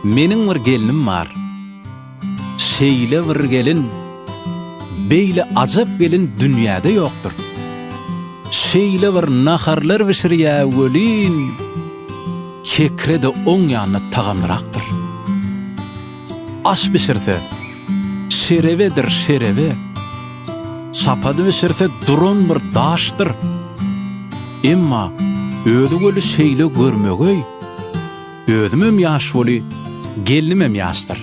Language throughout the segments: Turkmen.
Meniň bir gelnim bar. Şeýle bir gelin, beýle ajap gelin dünýäde ýokdur. Şeýle bir naharlar bişirýä welin, Kekre-de oň ýanyna tagamlyrakdyr. Aş bişirse, şerebedir şerebe, Çapady bişirse duran bir daşdyr. Emma özi weli şeýle görmegeý, Özümem ýaş weli, gelnimem ýaşdyr.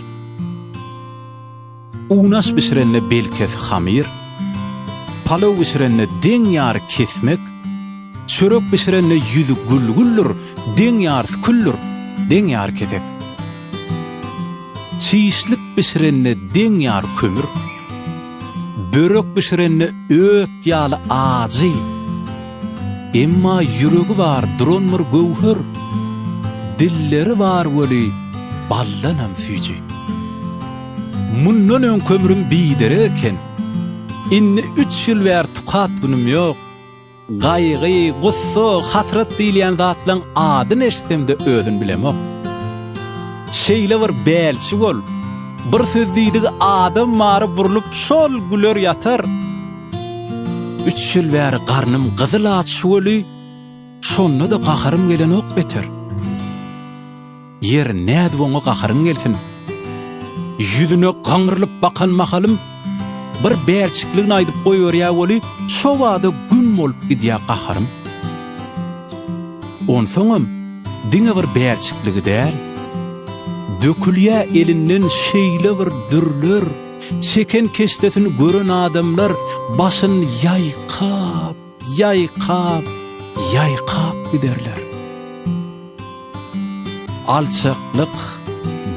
Unaş bişirende belkesi hamyr, Palaw bişirende deň ýary kesmek, Çörek bişirende ýüzi gül-güldür, Deň ýarysy küldür, deň ýary kesek. Çişlik bişirende deň ýar kömür, Börek bişirende öt ýaly ajy, Emma ýüregi bar duran bir göwher, Dilleri bar weli baldanam süýji. Mundan öň kömrüm biderek eken, Indi üç ýyl bäri tukat günüm ýok, Gaýgy, gussa, hasrat diýilýän zatlaň adyny eşitsem-de özün bilemok. Şeýle bir bälçi bol, bir söz diýdigi adam mary burlup şol güler ýatar. Üç ýyl bäri garnym gyzyl aç şuweli, şonda-da gaharym gelenok beter. Ýer, nädip oňa gaharyň gelsin? Ýüzüne gaňrylyp bakan mahalym, bir bälçikligini aýdyp goýberýä weli, şo bada güm bolup gidýä gaharym. Onsoňam, diňe bir bälçikligi däl, dökülýä elinden şeýle bir dürler, çeken keşdesini gören adamlar başyny ýaýkap, Ýaýkap, ýaýkap giderler. Alçaklyk,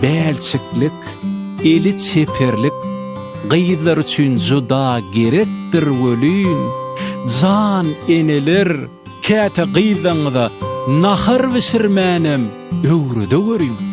bälçiklik, eli çeperlik gyzlar üçin juda gerekdir welin, jan eneler, käte gyzlaryňyza nahar bişirmänem öwredeweriň.